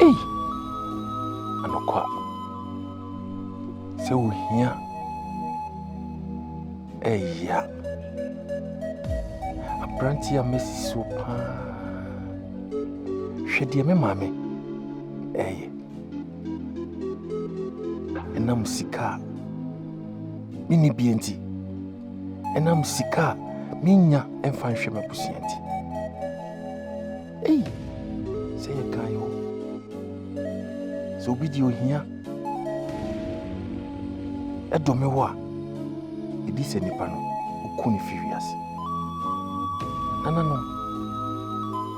Ei, anokwa sɛ ohia ɛyia aberante a masi so paa hwɛ deɛ me maame ɛyɛ Ɛnam sika a menni bie nti, ɛnam sika a mennya mfa nhwɛ m'abusua nti. Ei, sɛ yɛ kan yɛ o. Sɛ obi di ohia ɛdome wo a, ɛdi sɛ nipa no oku ne fi wiase. Nananom,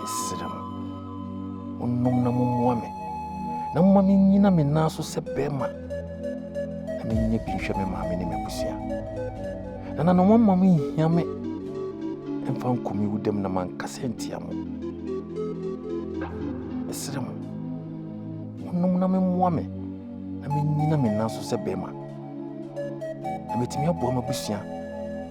mesrɛ mo. Monnom na mommoa me, na momma mennyina me nan so sɛ bɛrima, na mennyɛ bi nhwɛ me maame ne m'abusua. Nananom, momma monhia me mfa nkɔ me wudam na mankasa ntia mo. Mesrɛ mo, monnom na memmoa me, na mennyina me nan so sɛ bɛrima, na metumi aboa m'abusua.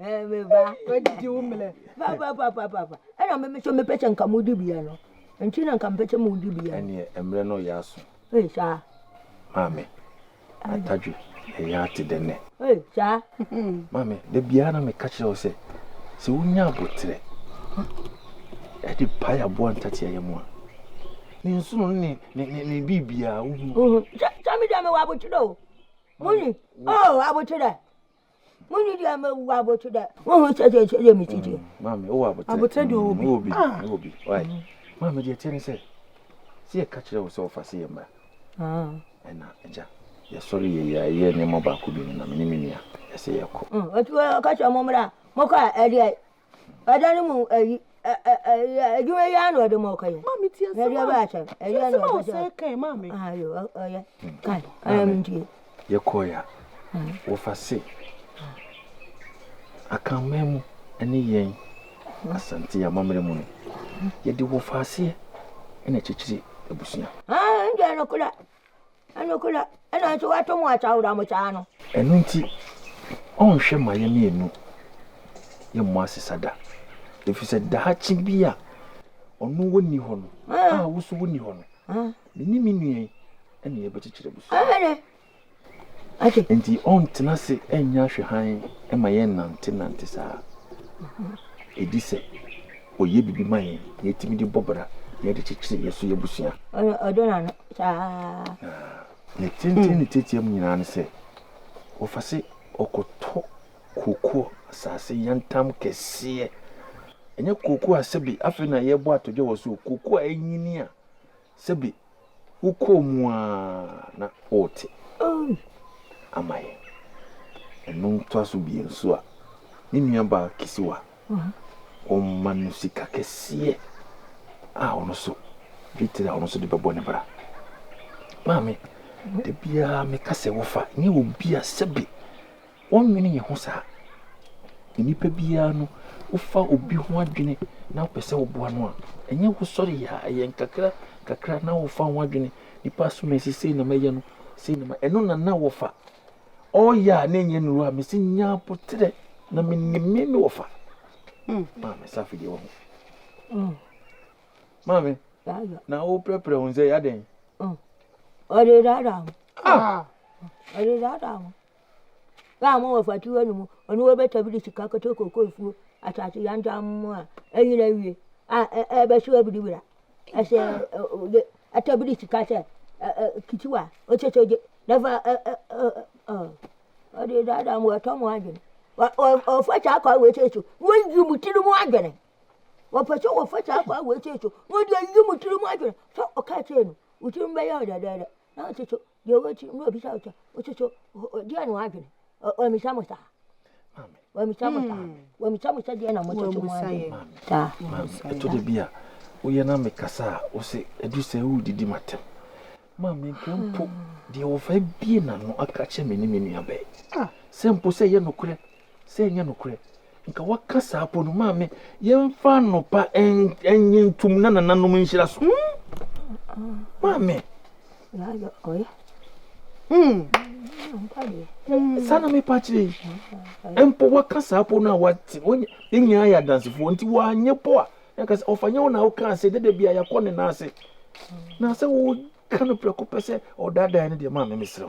Ɛɛ me ba, woadidi wo mmerɛ. Papapapapaapa. Ɛna me nso mepɛ sɛ nka modi bia no. Nti na nka mepɛ sɛ modi bia. Ɛneɛ mmerɛ no yɛ aso. Ee saa. Maame, atadwe na yɛ ate dɛ nnɛ. Ee saa. Maame, da biara na meka kyerɛ wo sɛ, sɛ wonya aboterɛ ɛde pae aboa ntatea yɛ mu a, ne nsono ne ne ne ne biribiara wohu. Sɛ me deɛ mewɔ aboterɛ o. Muni, oh aboterɛ. Mo ni deɛ mɛ wu abotu dɛ. Mo hu sɛ sɛ sɛ mi titi. Maame wɔ abotire. Abotire deɛ ɔwɔ bi. Wɔ bi wɔ bi. Maame deɛ tiɛ ni sɛ sɛ yɛ kakyire wɔ sɛ ɔfa se yɛ mra. Ɛna ɛgya yɛ sɔre yɛ yɛ yɛ nneɛma baako bi no na mi ni mi nua ɛsɛ yɛ kɔ. Ɛtu wɔ kakyire mo mra mo kɔ a ɛdeɛ Ɛda no mu ayi ɛ ɛ ɛ adwuma yi ara na ɔde ma ɔka yi. Maame ti asɛm a. Ɛdeɛ bɛ akyɛ. Ɛdeɛ na ɔka sɛ. Kan maame. Ayo ɔyɛ. Kan. Ɛyɛ mi ntie. Yɛ kɔ ya. Wɔfa se. Akanman mu ɛne yɛn asante amammerɛ mu no yɛde wɔfa aseɛ ɛna kyekyere abusua. Ah, ɛnjɛ no kura. Ɛno nti, ɔrenhwɛ ma yɛn mmienu yɛmmɔ asesa da, ɛfiri sɛ daakye bi a ɔno ɔnni hɔ no a wo nso wonni hɔ no, me ne me nua yi na yɛbɛkyekyere abusua. Enti ɔrentena ase nyɛ ahwɛhan ma yɛn nnantenante saa. Ɛdi sɛ ɔyɛ biribi ma yɛn na yɛtumi de bɔ bra na yɛde kyekyere yɛn so yɛn abusua. Na ne tenten ne tiatia mu nyinaa ne sɛ, wɔfa se ɔkɔtɔ kooko asase yantam kɛseɛ. Ɛnyɛ kooko a sɛbe afei na yɛrebɔ atodwe wɔ so o, kooko a anyini a sɛbe wokɔɔ mu a na worete ama yɛn. Ɛno ntoa so bio nso a, me nuabaa Kisiwa. Wɔma no sika kɛseɛ a ɔno nso dwetire a ɔno nso de bɛbɔ ne bra. Maame, da biara meka sɛ wofa nyɛ obi a sɛbe wɔnnwene yɛn ho saa. Nnipa biara no, wofa obi ho adwene na wopɛ sɛ woboa no a, ɛnyɛ wosɔre yɛ a, ɛyɛ nkakra nkakra na wofa ho adwene. Nnipa som sɛ sei na mɛyɛ no, sei na ma ɛno na na wɔfa. ɔyɛ a na ɛnyɛ nuru a mesi nya aboterɛ na menim me me wɔfa hmm. maame safi deɛ wɔho hmm. maame na woprɛprɛ wo sɛ yɛadɛn hmm. ɔde dada ho ah. ɔde dada ho báà mo wɔ fati wɔ ne mu ɔno wɔ bɛtɔ bi de sika kɔtɔ koko efuo asase yantam mu a ɛnyina wie a ɛbɛso abiribira ɛsɛ Ata bi de sika hyɛ kiti wa ɔkyɛ sɛ ɔgye na fa ɔde daadaa mu ɔtɔ mu adwene ɔfa saa kwa wei sɛ so wɔyi mu tiri mu adwene wɔpɛ sɛ wɔfa saa kwa wei sɛ so wɔde ayi mu tiri mu adwene sɛ ɔka kyerɛ no wo tiri mu bɛyɛ ɔdɛdɛɛdɛ na ɔte so deɛ ɔwɔ akyi na ɔbisa ɔkyɛ ɔsoso deɛ na wadwene ɔmisa mo saa ɔmisa mo saa ɔmisa mo sɛ deɛ na mososo mo adwene saa ɛtɔ da bi a woyɛ na mekasa a wo sɛ ɛdu sɛ wodidi matɛm ma menka mpo deɛ wɔfa bie na no aka kyɛ me ne me nuabɛɛ sɛ mpo sɛ ɛyɛ nokorɛ Sɛ ɛnyɛ nokorɛ, nka waka saa mpo no, maa me, yɛmfa anɔpa nnye ntom na nananom nhyira so. Hmm? Maa me. Hmm. Saa na mepa akyerɛ yi. Mpo waka saa mpo no a wate, yɛn nyinaa yɛ adansefoɔ, nti wanyɛ mpo a, na ka sɛ ɔfa nyɛ wo na wokaa sɛ dada bi a yɛakɔ ne nan ase. Na sɛ woka no prɛko pɛ sɛ ɔdaadaa no deɛ, maa me mesrɛ wo.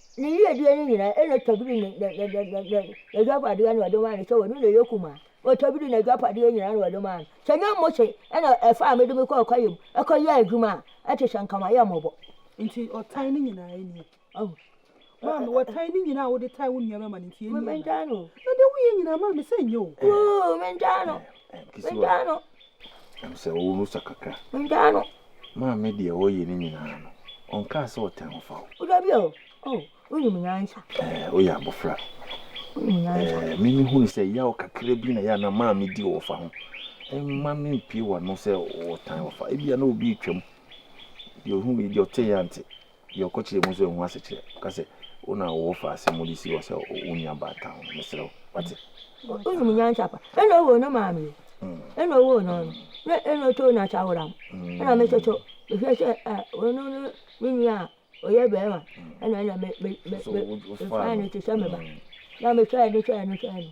Ne yiedie no nyinaa, ɛna tabiri n'adwapadeɛ na ɔde maa no, sɛ ɔno na ɛyɛ kumaa. Ɔtabiri n'adwapadeɛ nyinaa na ɔde maa no. Sɛ ɛnyɛ Mose na ɛfaa me de me kɔɔ kwaeɛ mu kɔyɛɛ adwuma a, ɛte sɛ anka mayɛ mmɔbɔ. Nti ɔtan no nyinaa nie? Ɔho. Maame, ɔtan no nyinaa a wode tan wo nuabarima no, nti ɛnie anaa? Mentaa no o. Na deɛ woyɛ nyinaa, maame, sɛ ɛnyɛ o? Woo, mentaa no. Kesewa no, ɛm sɛ wo ho sɔ kakra. Meda no. Maame deɛ ɔyɛ ne nyinaa no, ɔnkaa sɛ ɔtɛn ho fa wo. Woda bi a o, o, wonim nyansa. Ɛɛ, woyɛ abɔfra. Wonim nyansa. Ɛɛ, me me hunu sɛ yaw kakra bi na yɛ a na maame di ɔfa ho. Ɛmma me mpie w'ano sɛ ɔtan ɔfa. Ebia na obi retwam. Deɛ ohunu yi deɛ ɔte yɛ ante. Deɛ ɔkɔkyerɛ mu nso ɛho asekyerɛ. Ka sɛ, Wo na wowɔ fa asɛm mu de si hɔ sɛ wo nua baa town no, mesrɛ wo. Wate? Wonum nyansa pa. Ɛna owoo no maa me. Ɛna owoo no no. Na ɛna ɔtoo no asaworam. Ɛna me nso so, mehwɛ sɛ a ɔno ne me nua a ɔyɛ barima. Ɛna ɛna me me me me mefaa no te sɛ me ba. Na mehwɛɛ no hwɛɛ no hwɛɛ no.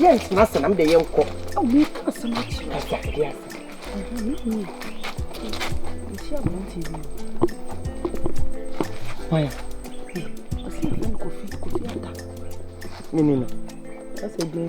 yɛntena ase na mede yɛnkɔ Nini no. That's a day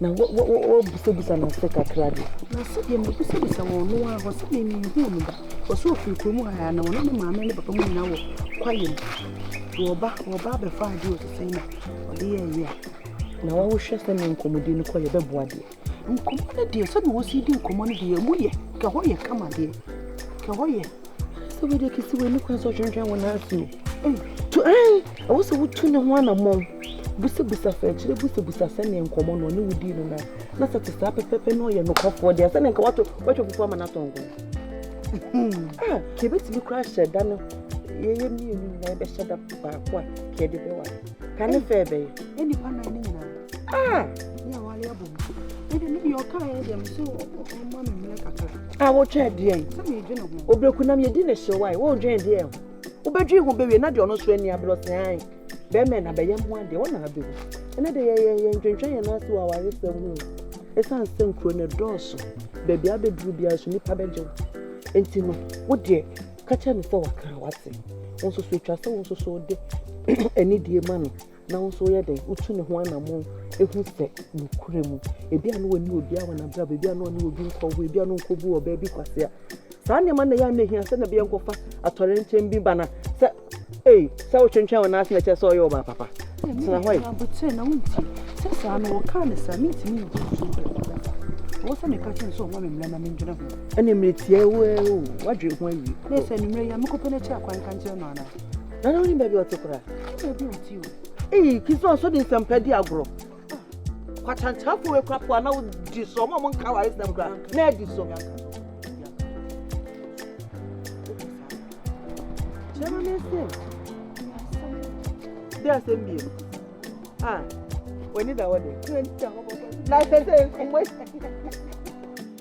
Na wo, wo, wo, woabisabisa no ase kakra de. Na sɛdeɛ mabisabisa wɔ ɔno ara hɔ, sɛdeɛ menhuu no da. Ɔse ɔfiri kurom ha a, na ɔne ne maame ne ne papa mu nyinaa wɔ kwaeɛm. Nti ɔba, ɔba abɛfa adeɛ ɔse sɛn na ɔde yɛɛ yɛ a. Na wa, wohwɛ sɛdeɛ nkɔmmɔdie no kɔ, yɛbɛboa deɛ. Nkɔmmɔ no deɛ, sɛdeɛ wɔsi di nkɔmmɔ no deɛ, ɛmu yɛ, kɛhɔ yɛ kama deɛ, kɛhɔ yɛ. sɛ wei deɛ kɛsi wei ne kwan sɛ ɔtwentwɛn wo nan ase o to ɛn ɛwɔ sɛ wotu ne ho anammɔn busabusa sɛ akyire busabusa sɛneɛ nkɔmmɔ no ɔne wodii no nan na sɛ te saa pɛpɛpɛ na ɔyɛ nokwafoɔ deɛ sɛneɛ nka wato watwa fufuo ama no atɔ nko a ka ɛbɛtumi koraa hyɛ da no yɛyɛ mmienu nyinaa yɛbɛhyɛ da baako a ka ɛde bɛwa ka ne fɛ ɛbɛyɛ a wotwɛn deɛ obɛku nam yɛdi ne hyew wae wodwen deɛ ho wobɛdwen ho bɛwie na deɛ ɔno so ani aberɛ ɔsɛ ae bɛrima na bɛyɛ mmoa deɛ ɔna abɛwu ɛnɛ de yɛyɛ ntwentwɛn yɛn ase wɔ aware sɛ mu ɛsiane sɛ nkuro no dɔɔso baabi abɛduru biara so nnipa bɛgye wo nti no wo deɛ ka kyerɛ no sɛ waka wate wo nso so atwa sɛ wo nso so wode anidie ma no na wo nso woyɛ dɛn wotu ne ho anammɔn ehu sɛ nokura mu ebi a na wɔne obi a wɔn abrabɔ ebi a na wɔne obi nkɔwɔ ebi a na nkɔbu ɔbaa bi kwasea saa nneɛma na yɛn anahia sɛ na bi yɛn kɔfa atɔre nkyɛn bi ba na sɛ ee sɛ wotwentwɛn wɔn ase na kyɛ sɛ ɔyɛ ɔbaa papa tena hɔ yi. abotire na wonti sɛ saa no wɔkaa ne saa mentumi nti nso wɔ sɛ meka kyɛ nso ɔma me mmerɛ na mendwene ho ɛne mmerɛ tiɛ wo wadwe ho awie na ɛsɛ no mmerɛ yi a mekɔpɛ no akyi akwanka nkyerɛ no anaa Nana woni baabi ɔte koraa. Baabi ɔte o. Ee kisa ɔsɔ de nsɛmpa di agorɔ. Kwatantanfo wei kora po a na wodi so ɔmo a ɔmo nka aware sɛm kora na adi so. Kyerɛ ma me nsɛm. Dɛ asɛm biem. Ah, w'ani da hɔ de. Na sɛ sɛ mmɔ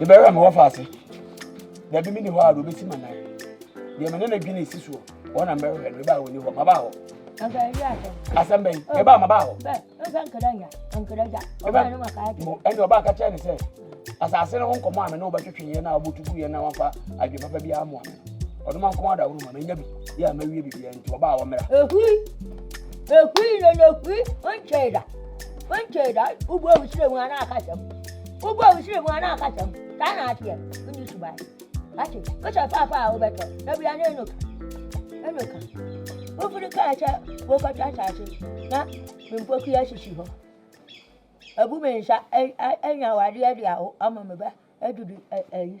yɛbɛyɛ a mewɔ fa ase baabi meni hɔ a de obɛsi ma nan deɛ mene no dwene si soɔ wɔn na mɛhwɛ no mebaa wɔni hɔ mabaa hɔ asɛm bɛn mebaa mabaa hɔ ɛne ɔbaa ka kyerɛ ne sɛ asase no ho nkɔmmɔ a me ne wobɛtwetweeɛ no a wobɛtuguiɛ na wafa adwe papa bi amoa me no ɔdoma nkɔm adaworo ma manya bi yɛ a mawie biribiaa nti ɔbaa wɔmmra ɛhui ɛhui lolohui nkyɛe da Wonkyɛe da wobu ahuhyerɛ mu anaa akasɛm. Wobu ahuhyerɛ mu anaa akasɛm. Saa na ateɛ. Wonni suban. Wate, wohyɛ fafa a wobɛtɔ. Na bia ne ɛno ka. Ɛno ka. Wofiri kaa sɛ wokɔtɔ asase na mpoku asisi hɔ. Abu me nsa anya awadeɛ de awo ama me ba adudu ayi.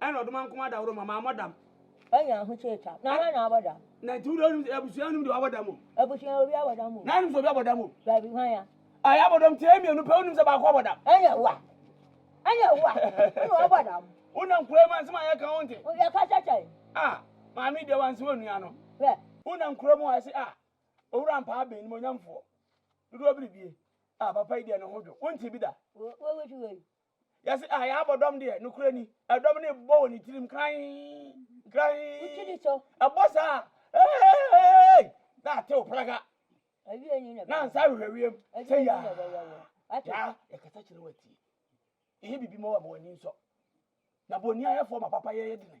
Ɛna ɔdom ankoma da woro ma maa mɔ dam. Anya ahokyere ta na wɔn na abɔ dam. Na nti wode onim abusua onim deɛ wabɔ dam o. Abusua obi abɔ dam o. Na anim sɛ obi abɔ dam o. Baabi hwan ya. A yabɔ dam tiɛ mmienu pɛ onim sɛ baako abɔ dam. Anya wa. Anya wa. Ɛna wabɔ dam. Wonam kura mu ansɛm a yɛka ho nte. Yɛka sɛ kyɛn. A maame deɛ wansi wɔ nua no. Hwɛ. Wonam kura mu a ɛse a owura mpaa ben nimonyamfoɔ dodoɔ biribie a papa yi deɛ ne ho dwo wonte bi da. Wo wo wusu wei. Yɛse ah, yɛabɔ dɔm deɛ, nokorɛ ni, ɛdɔm no rebobɔ wɔ ne tirim krann, krann, ɛbɔ saa a, eeeeeeeeeii, na atew praga, na nsa ahwehwɛ wiem, sɛ yaa, yaa, yɛkasa kyerɛ wo atie, yɛyɛ biribi ma wo ama w'ani nsɔ, na boniayɛfoɔ ma papayɛ yɛ dene,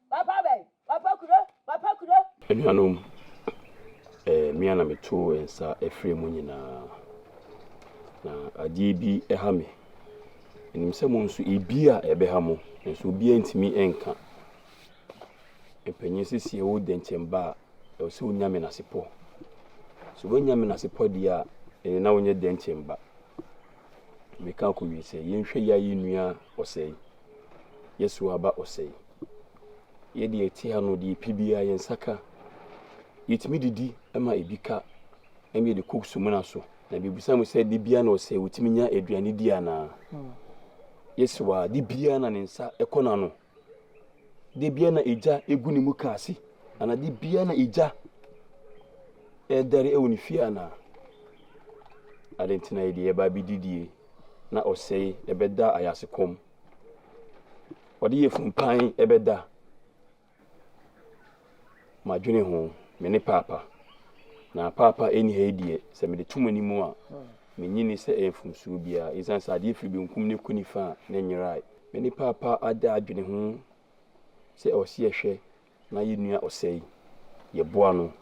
Papa bɛn? Papa Kuro? Papa Kuro? Anuanom, ɛyɛ me a na meto nsa frɛ mo nyinaa. Na adeɛ bi ha me. Menim sɛ mo nso ebi a ɛbɛha mo, nanso obiara ntumi nka. Mpanyin sesie wo dɛnkyɛm ba a, ɛwɔ sɛ wonya menasepɔ. So woanya menasepɔ deɛ a, ɛne na wonyɛ dɛnkyɛm ba. Meka akɔwie sɛ yɛnhwɛ yɛ a yɛnnua ɔsɛe. Yɛsow aba ɔsɛe. Yɛ deɛ ɛte ha no, deɛ ɛpi biara yɛn nsa ka. Yɛtumi didi ma ebi ka, ɛnna yɛde kɔ sumina so. Na mibisa mo sɛ, da biara na ɔsɛe wotumi nya aduane di anaa? Yesu a, da biara na ne nsa kɔ n'ano. Da biara na egya gu ne muka ase, anaa da biara na egya ɛredɛre wɔ ne fie anaa? Ade nti na yɛde yɛba abɛdidie na ɔsɛe bɛda ayase kɔm, ɔde yɛ funpan bɛda madwene ho, me ne paapa, na paapa ɛni ha yi deɛ, sɛ mede to m'anim a, menyi ne sɛ ɛyɛ mfomsuo biara, ɛsiane sɛ adeɛ firi benkum ne kɔ nifa a, na ɛnyerae. Me ne paapa ada adwene ho sɛ ɔse ɛhwɛ Na yɛn nua Ɔsɛe, yɛboa no.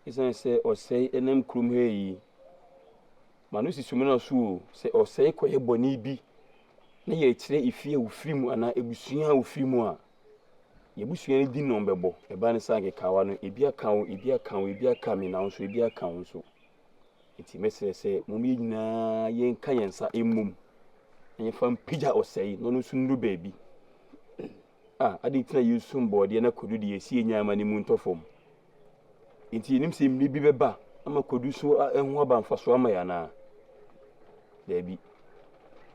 Esiane sɛ Ɔsɛe nam kurom ha yi ma no si Sumina so o, sɛ Ɔsɛe kɔyɛ bɔne bi na yɛrekyerɛ efie a ofiri mu anaa abusua a ofiri mu a, yɛn abusua no din na wɔbɛbɔ. Ɛba ne saa nkekaawa no, ebi aka wo, ebi aka wo, ebi aka me, na wo nso ebi aka wo nso. Enti mɛsrɛ sɛ mom yɛn nyinaa yɛnka yɛn nsa mmom na yɛmfa mpagya Ɔsɛe na ɔno nso nnuru baabi. A. Adɛn nti na yɛnsom bɔɔdeɛ na kwadu deɛ, ɛsɛ yɛnya ɛma ne mu ntɔ fam? Enti yɛnim sɛ mmere bi bɛba ama kwadu so ho aba mfasoɔ ama yɛn anaa? Daabi.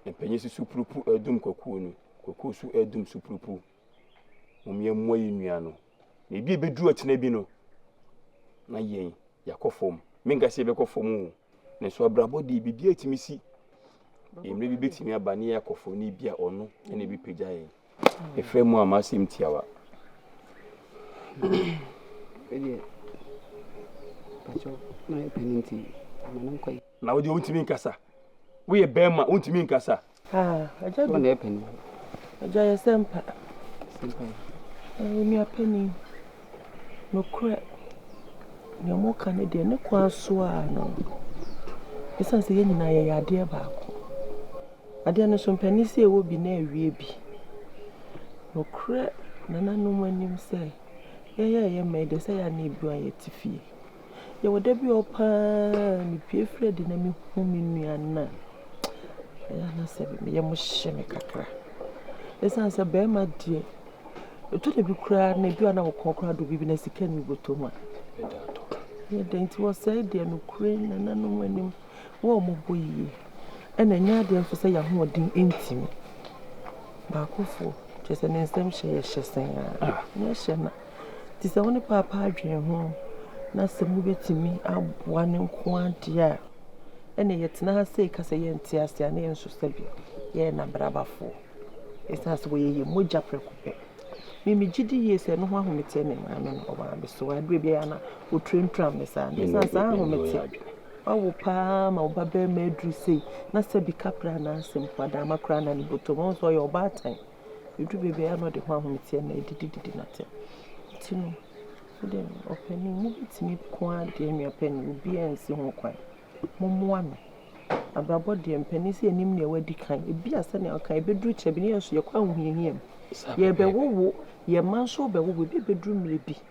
Mpanyin so supurupu redum kwakuo no, kwakuo so redum supurupu. Mom yɛmmoa yɛn nua no, na ebi a ɛbɛduru ɔkyena bi no, na yɛn, yɛakɔ fam. Menka sɛ yɛbɛkɔ fam o, nanso abrabɔ deɛ biribiara tumi si. Mmere bi bɛtumi aba na yɛakɔ fam na ebi a ɔno na ɛbɛpagya yɛn. Efrɛ mu a m'asɛm tiawa. Na wodeɛ wontumi nkasa. Woyɛ bɛrima wontumi nkasa. Agya bi. Agya yɛ sɛmpa. Nua panin. Nokorɛ. Nea moka no deɛ ne kwan so a no. Ɛsiane sɛ yɛn nyinaa yɛyɛ adeɛ baako. Adeɛ no so mpanin sɛ ɛwɔ bi na ɛrewie bi. Nokorɛ nananom anim sɛ, yɛn a yɛn mɛn deɛ sɛ yɛn anan abunu a yɛte fie. Yɛwɔ da bi a ɔɔ paa mepue firi adi na mehu me nua no a, ɛyɛ a na sɛ me yam hye me kakra. Ɛsiane sɛ barima deɛ, ɛtɔ da bi koraa na ebi wɔ hɔ a na wo kɔn koraa dɔ biribi na sika nni wo bɔtɔ mu a, ɛyɛ dɛn nti wɔsɛe deɛ nokorɛ nananom anim. wɔmmɔbɔ yie, ɛna ɛnyɛ adeɛ nso sɛ yɛn ahoɔden ntumi. Baakofoɔ, kyerɛ sɛ ne nsɛm hyɛ yɛ hyɛ sɛn ara, ne hyɛ na. Nti sɛ wo ne paapa adwene ho na sɛ mobɛtumi aboa no nko ara deɛ a, ɛna yɛtena ha sei ka sɛ yɛnte ase a, na yɛn nso sɛbe yɛyɛ n'abrabafoɔ. Ɛsiane sɛ wɔyɛ yɛn mogya prɛko pɛ. Me megye di yie sɛ ɛno ho ahometeɛ na ɛmaa me no, ɔmaa me so. Adeɛ biara na ɔturatura me saa, ɛsiane saa ahometeɛ. Wawo paa ma wo babarima aduru sei na sɛbi kapra anaa asɛ mpo adaama koraa na ne bɔtɔ mu. Wohu sɛ ɔyɛ ɔbaatan. Ɛduru baabi a ɛyɛ a na ɔde ho ahometeɛ na ɛdidididi no atɛm. Nti no, wo deɛ ɔpanin mobɛtumi ko ara deɛ nua panin obiara nsi ho kwan. Mommoa no. Abrabɔ deɛ mpanin sɛ yɛnim deɛ wadi kan. Ebi a sɛdeɛ woka ɛbɛduru kyɛ bi na yɛn nso yɛkɔ ahohiahia mu. Yɛrebɛwowo, yɛn mma nso rebɛwowo, ebi bɛduru mmerɛ bi.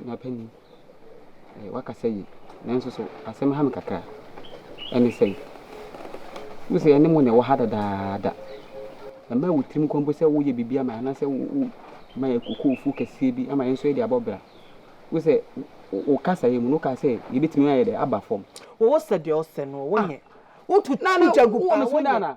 Nana panin, eh, woakasa yie, nanso so asɛm ha me kakra. Ɛne sɛn? Wo sɛ yɛne mo na ɛwɔ ha dadaada. Ɛmma wo tirim nkɔ mpo sɛ woyɛ biribi ama yɛn anaasɛ woma yɛn kokoofo kɛseɛ bi ama yɛn nso yɛde abɔ bra. Wo sɛ wo kasa yɛ mu no, wokaa sɛ yɛbɛtumi ayɛ dɛ aba fam. Wɔwɔ sɛ deɛ ɔsɛ no wɔnyɛ. Wotu gya gu paa wɔnyɛ.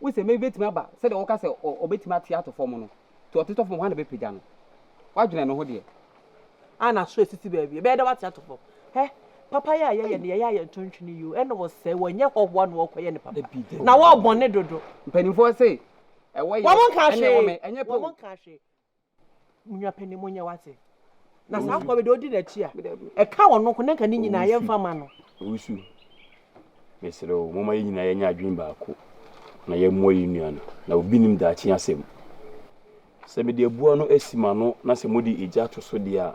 Wo sɛ mmɛ bɛtumi aba sɛdeɛ woka sɛ ɔbɛtumi ate ato fam no nti ɔtetɔ fam hwan na bɛpagya no wadwene ne ho deɛ a na so asisi baabi ɛbɛyɛ dɛ wate ato fam hɛ papa yɛ a yɛyɛ ne yɛyɛ a yɛnto ntwene yio ɛna wɔsɛe wɔnyɛ hɔhoa na wɔkɔyɛ ne papa na wɔbɔne dodo mpanimfoɔ se ɛwɔ yɛ ɛne wɔmɛ ɛnyɛ pɛ wɔn nka hwee Munya pene mo nyɛ wate. Na saa kwa bi de odi n'akyi a. Ɛka wɔn nko na nka ne nyinaa yɛ mfa ma no. Owusu. Mesrɛ wo moma yɛn nyinaa yɛnyɛ adwene baako na yɛmmoa yɛn nua no. Na obi nim daakye asɛm. Sɛ mede abua no asi m'ano na sɛ mode egya to so deɛ a,